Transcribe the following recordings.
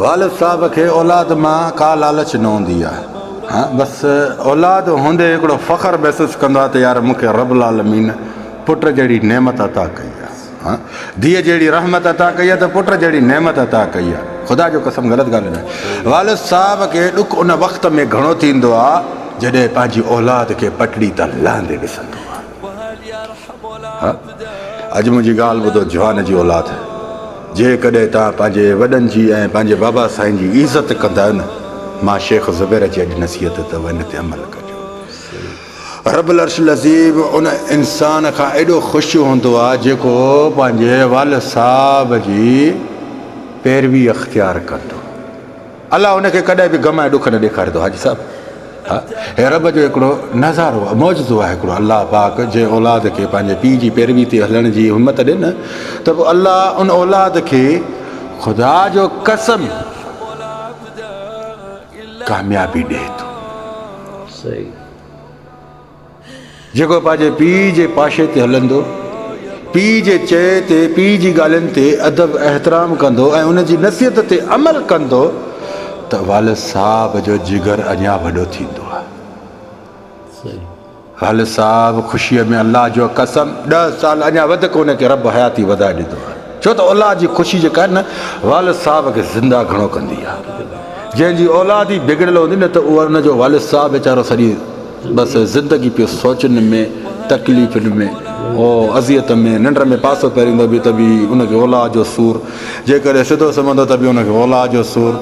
والد صاحب کي اولاد مان ڪا لالچ نه هوندي آ ها بس اولاد هوندي هڪڙو فخر محسوس ڪندو آ ته يار مون کي رب العالمين پٽ جهڙي نعمت عطا ڪئي آ ها ڌيء جهڙي رحمت عطا ڪئي آ ته پٽ جهڙي نعمت عطا ڪئي آ خدا جو قسم غلط ڳالهه نه والد صاحب کي ڏک ان وقت ۾ گهڻو ٿيندو آ جڏهن پنهنجي اولاد کي پٽڙي تان لهندي ڏسندو آ ها اڄ منهنجي ڳالهه ٻڌو جهان جي اولاد، جيڪڏهن توهان پنهنجي وڏن جي ۽ پنهنجي بابا سائين جي عزت ڪندا آهيو نه مان شيخ زبير جي اڄ نصيحت اٿو ان تي عمل ڪجو. رب العرش العظيم ان انسان کان ايڏو خوش هوندو آهي جيڪو پنهنجي والد صاحب جي پيروي اختيار ڪندو. الله ان کي ڪڏهن به غم ۽ ڏک نه ڏيکاري ٿو حاجي صاحب ها هي رب جو هڪڙو نظارو آهي معجزو آهي هڪڙو الله پاڪ جنهن اولاد کي پنهنجي پيء جي پيروي تي هلڻ جي همت ڏي نه ته پوء الله ان اولاد کي خدا جو قسم ڪاميابي ڏي ٿو. صحيح. جيڪو پنهنجي پيء جي پاشي تي هلندو، پيء جي چئي تي، پيء جي ڳالهين تي ادب احترام ڪندو ۽ ان جي نصيحت تي عمل ڪندو ته والد صاحب جو جگر اڃا وڏو ٿيندو آهي. والد صاحب خوشيء ۾ الله جو قسم ڏهه سال اڃا وڌڪ ان کي رب حياتي وڌائي ڏيندو آهي. ڇو ته اولاد جي خوشي جيڪا آهي نه والد صاحب کي زنده گهڻو ڪندي آهي. جنهن جي اولاد ئي بگڙيل هوندي نه ته ان جو والد صاحب ويچارو سڄي بس زندگي پيو سوچن ۾، تڪليفن ۾، او اذيت ۾. ننڊ ۾ پاسو پيريندو به ته به ان کي اولاد جو سور، جيڪڏهن سڌو سمهندو ته به ان کي اولاد جو سور.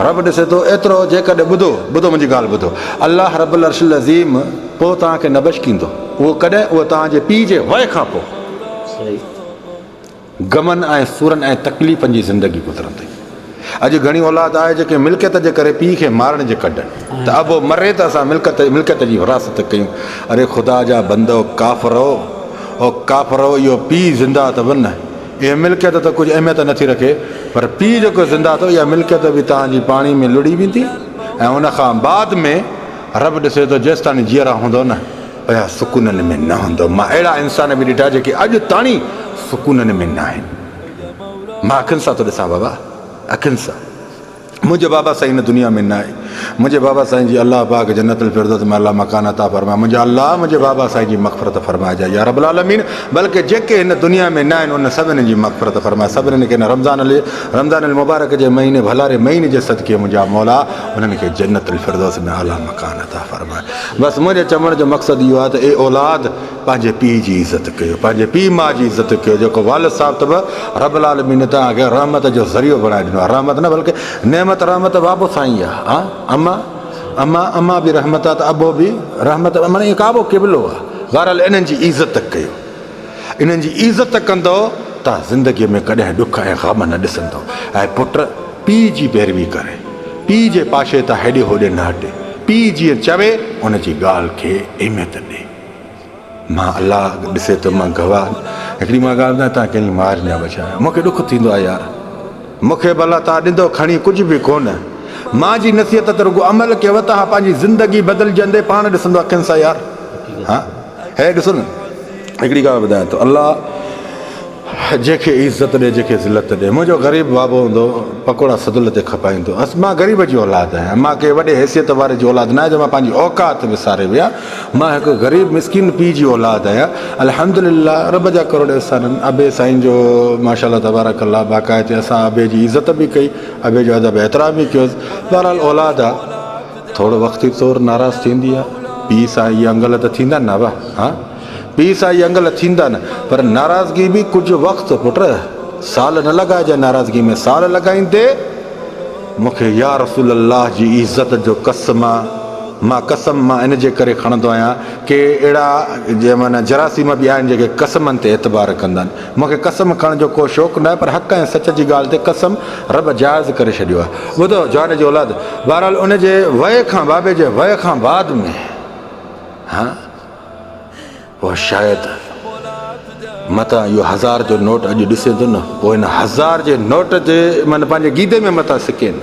رب ڏسي ٿو ايترو جيڪڏهن ٻڌو، ٻڌو منهنجي ڳالهه ٻڌو. الله رب العرش العظيم پوء توهان کي نه بشڪيندو. اهو ڪڏهن؟ اهو توهان جي پيء جي وئي کان پوء. غمن ۽ سورن ۽ تڪليفن جي زندگي گذرن ٿي. اڄ گهڻي اولاد آهي جيڪي ملڪيت جي ڪري پيء کي مارڻ جي ڪڍن ته ابو مري ته اسان ملڪت ملڪيت جي وراثت ڪيون. اري خدا جا بندو ڪافرؤ او ڪافرؤ اهو پيء زنده اٿو نه اهي ملڪيت ته ڪجهه اهميت نٿي رکي پر پيء جيڪو زنده اٿو اها ملڪيت به توهان جي پاڻي ۾ لڙهي ويندي ۽ ان کان بعد ۾ رب ڏسي ٿو جيستاڻي جيئرا هوندؤ نه پيا سڪونن ۾ نه هوندؤ. مان اهڙا انسان به ڏٺا جيڪي اڄ تاڻي سڪونن ۾ ناهن. مان اکين سان ٿو ڏسان بابا اکين سان. منهنجو بابا سائين هن دنيا ۾ ناهي. منهنجي بابا سائين جي الله پاڪ جنت الفردوس ۾ اعليٰ مڪان عطا فرمائي. منهنجا الله منهنجي بابا سائين جي مغفرت فرمائجي يا رب العالمين. بلڪه جيڪي هن دنيا ۾ ناهن انهن سڀني جي مغفرت فرماء. سڀني کي هن رمضان رمضان المبارڪ جي مهيني ڀلاري مهيني جي صدقي منهنجا مولا انهن کي جنت الفردوس ۾ اعليٰ مڪان عطا فرماء. بس منهنجي چوڻ جو مقصد اهو آهي ته اي اولاد پنهنجي پيء جي عزت ڪيو پنهنجي پيء ماء جي عزت ڪيو جيڪو والد صاحب ته به رب العالمين توهان کي رحمت جو ذريعو بڻائي ڏنو آهي رحمت نه بلڪه نعمت رحمت بابو سائين آهي ها اما اما اما به رحمت آهي ته ابو به رحمت معني ڪعبو قبلو آهي بهرحال انهن جي عزت ڪيو انهن جي عزت ڪندؤ ته زندگيء ۾ ڪڏهن ڏک ۽ غم نه ڏسندؤ ۽ پٽ پيء جي پيروي ڪري، پيء جي پاشي تان هيڏي هوڏي نه هٽي، پيء جيئن چوي ان جي ڳالهه کي اهميت ڏي. مان الله ڏسي ٿو مان گواهه هڪڙي مان ڳالهه ٻڌان تان ڪنهن جي مار نه بچايو آهي. مون کي ڏک ٿيندو آهي يار. مون کي به الله تان ڏندو کڻي ڪجهه به ڪونه. مان جي نصيحت تي رڳو عمل ڪيو تان پنهنجي زندگي بدلجندي پاڻ ڏسندو اکين سان يار. ها. هيء ڏسو نه هڪڙي ڳالهه ٻڌايان ٿو الله جنهن کي عزت ڏي جنهن کي ذلت ڏي منهنجو غريب بابو هوندو پڪوڙا سدل تي کپائيندو هئس مان غريب جي اولاد آهيان مان ڪنهن وڏي حيثيت واري جي اولاد ناهي جو مان پنهنجي اوقات وساري ويهان مان هڪ غريب مسڪين پيء جي اولاد آهيان الحمدلله رب جا ڪروڙ احسان آهن ابي سائين جو ماشاءالله تبارڪ الله باقاعدي اسان ابي جي عزت به ڪئي ابي جو ادب احترام به ڪيوس بهرحال اولاد آ ٿورو وقتي طور ناراض ٿيندي آ. پيء سان اهي انگل ته ٿيندا نه ابا. ها پيء سان اهي انگل ٿيندا نه پر ناراضگي به ڪجهه وقت پٽ سال نه لڳائجي ناراضگي ۾ سال لڳائيندي مون کي يا رسول الله جي عزت جو قسم مان قسم مان ان جي ڪري کڻندو آهيان ڪي اهڙا جراسيم به آهن جيڪي قسمن تي اعتبار ڪندن مون کي قسم کڻڻ جو ڪو شوق ناهي پر حق ۽ سچ جي ڳالهه تي قسم رب جائز ڪري ڇڏيو آهي. ٻڌو جواري جي اولاد بهرحال ان جي وئي کان بابي جي وئي کان بعد ۾ ها اهو شايد متان اهو هزار جو نوٽ اڄ ڏسين ٿو نه اهو ان هزار جي نوٽ جي من پنهنجي گيدي ۾ متان سڪين.